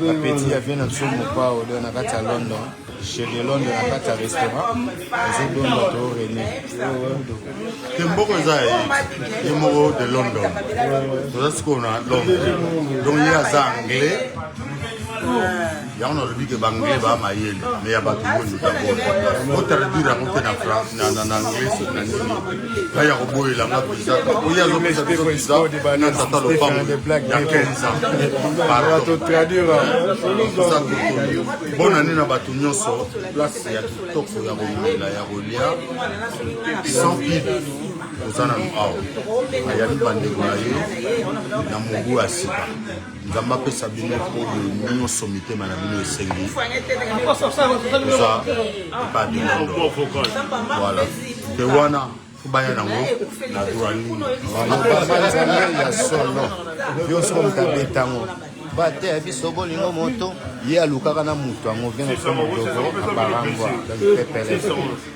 bapeti ya vie na biso mopao do na kati ya london chez de london na kati ya restaurant ezodonda to rene te mboko eza ye moko de london toza sikoyo na london donc ye aza anglais yango nalobi ke baanglais baa mayele me ya bato oyo ndotabola otraduire yango mpe na anglais soki na nini ngai ya koboyela nga visa oye azopesa biso visa na tata lopango ya 15 ans pardontoza kokomi bona nde na bato nyonso place ya kitoko ya komela ya kolia sans pib oza nanu awa ayambi bandeko na ye na mobu ya sika nzambe apesa bino oyo nyonso mitema na bino esengi eza epai bilando voilà te wana baya nango na droit nini ya solo yo soko moto abetango bate ya biso bolingo moto ye alukaka na moto yango vino somo dogo abarangwa pepele